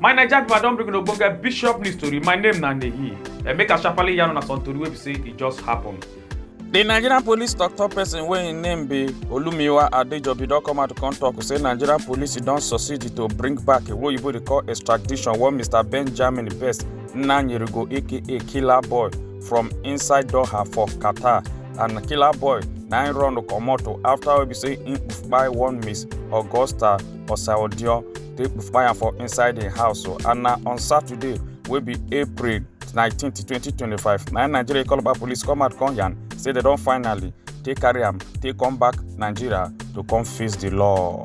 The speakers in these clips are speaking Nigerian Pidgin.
my naija pipo i don bring una ogbonge bishop news tori my name na neyi and make i sharparly yarn una some tori wey be say e just happen. di nigerian police tok-tok pesin wey im name be olumiwa adejobi don come out to come tok say nigerian police don succeed to bring back a oyibo dey call extradition one mr benjamin best nnanyerego aka killer boy from inside doha for qatar and killer boy na im run comot after wey be say im kpai one miss augusta osaodio take kpai am for inside im house and na on saturday wey be april 19 2025 na nigeria calabar police come out come yarn say dem don finally take carry am take come back nigeria to come face di law.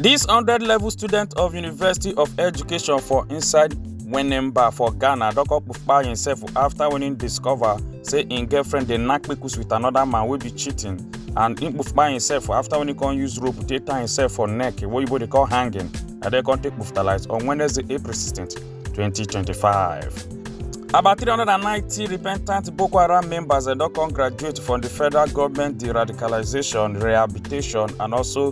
dis 100 level student of university of education for inside Wenemba for Ghana don come kpai himself after when he discover say im girlfriend dey knack kpekus with another man wey be cheating and he kpai himself after when he come use rope dey tie himself for neck wey oyibo dey call hanging and then come take kpuftalite on Wednesday, April 16, 2025. About 390 repentant Boko Haram members dem don come graduate from the federal government de-radicalization, rehabilitation and also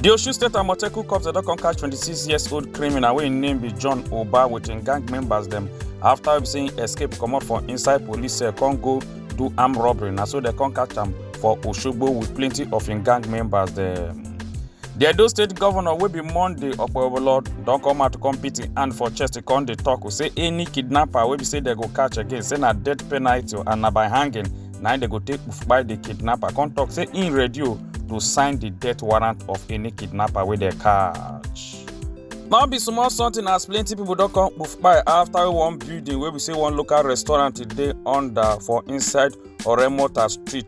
di osun state amotekun cops dem don come catch 26 years old criminal wey im name be john oba with im gang members dem after wey be say im escape comot for inside police cell come go do armed robbery na so dem come catch am for osogbo with plenty of im gang members dem. di edo state governor wey be monday okpebholo don come out to come beat im hand for chest come dey tok say any kidnapper wey be say dem go catch again say na death penalty and na by hanging na im dem go take kpai the kidnapper come talk say im ready o to sign the death warrant of any kidnapper wey dem catch. no be small something as plenty people don come kpai after one building wey be say one local restaurant dey under for inside oremota street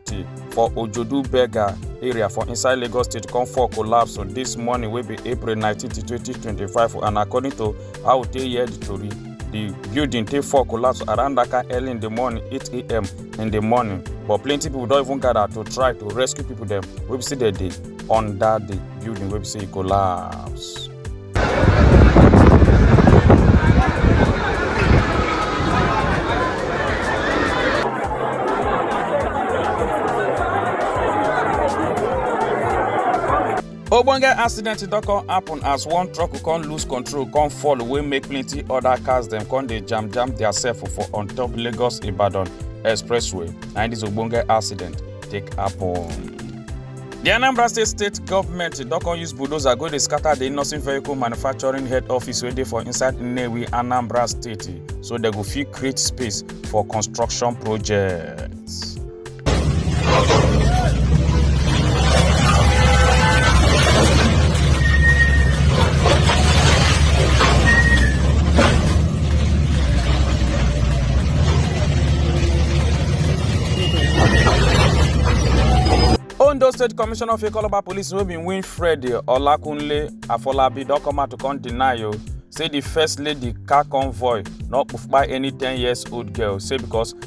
for ojodu berger area for inside lagos state come fall collapse on this morning wey be april 19 2025 and according to How we take hear the tori? The building take fall collapse around that kind early in the morning, 8 a.m. in the morning. But plenty people don even gather to try to rescue people dem wey be say dem dey under the building wey be say e collapse. ogbonge accident don come happen as one truck come lose control come fall wey make plenty other cars dem come dey jam jam theirself for on top lagos ibadan expressway na im this ogbonge accident take happen. di anambra state state government don come use bulldozer go dey scatter di nursing vehicle manufacturing head office wey dey for inside nnewi anambra state so dem go fit create space for construction project. ondo state commissioner of ikoloba police wey bin win fred olakunle afolabi don come out to come deny o say di first lady car convoy no kpufa any ten years old girl say because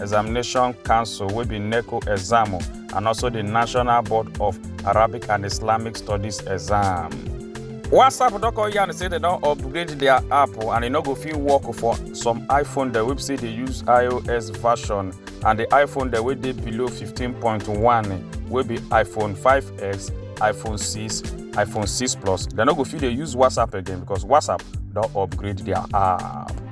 examination council wey be neco exam and also the national board of arabic and islamic studies exam. whatsapp don come yarn say dem don upgrade their app and e no go fit work for some iphone dem wey be say dey use ios version and the iphone dem wey dey below 15.1 wey be iphone 5x iphone 6 iphone 6 plus dem no go fit dey use whatsapp again because whatsapp don upgrade their app.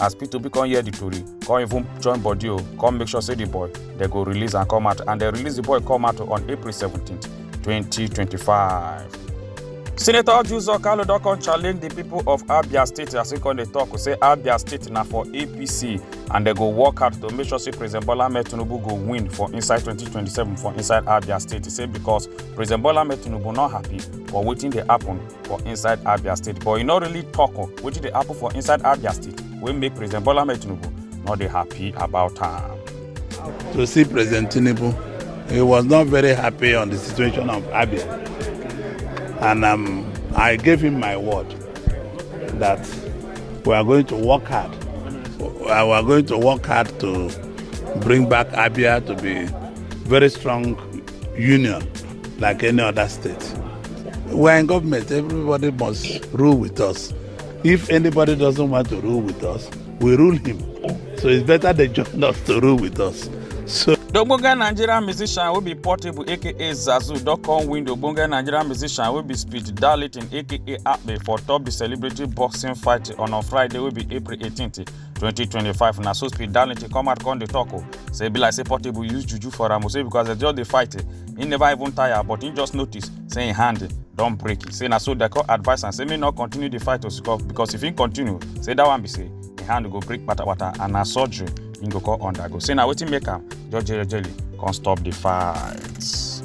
as p2p come hear the tori come even join body o come make sure say the boy dem go release am come out and dem release the boy come out on april 17 2025. senator juzor kalu don come challenge di pipo of abia state as e come dey tok say abia state na for apc and dem go work hard to make sure say president bola ahmed tinubu go win for inside 2027 for inside abia state say because president bola ahmed tinubu no happy for wetin dey happen for inside abia state but e no really tok on wetin dey happen for inside abia state wey make president bola ahmed tinubu no dey happy about am. to see President Tinubu. He was not very happy on the situation of Abia. And um, I gave him my word that we are going to work hard. We are going to work hard to bring back Abia to be very strong union like any other state. We are in government, everybody must rule with us. If anybody doesn't want to rule with us, we rule him. So it's better they join us to rule with us. So The Ogbonge Nigerian musician wey be Portable aka Zazu don come win the Ogbonge Nigerian musician wey be Speed Darlington aka Akpe for top the celebrity boxing fight on on Friday wey be April 18th. 2025 na so speed darlington come out come dey talk o say e be like say portable use juju for am o say because dem just dey fight eh, he never even tire but he just notice say him hand don break say na so dem come advise am say make no continue the fight o siko- because if he continue say that one be say him hand go break patapata and na surgery he go come undergo say na wetin make am jejely come stop the fight.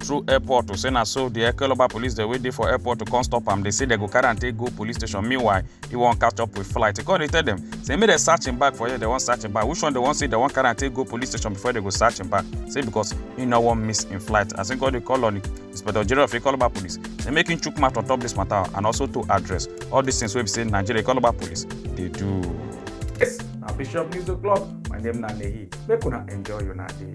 through airport to say na so di ekeloba police dey wey dey for airport to come stop am dey say dem go carry am take go police station meanwhile he wan catch up with flight he come dey tell dem say make dem search him bag for here dem wan search him bag which one dem wan say dem wan carry am take go police station before dem go search him bag say because he no wan miss him flight as he come dey call on inspector general of ekeloba police say make him chook mouth on top this matter and also to address all these things wey be say nigeria ekeloba police dey do. yes na bishop news o'clock my name na nehi make una enjoy una day.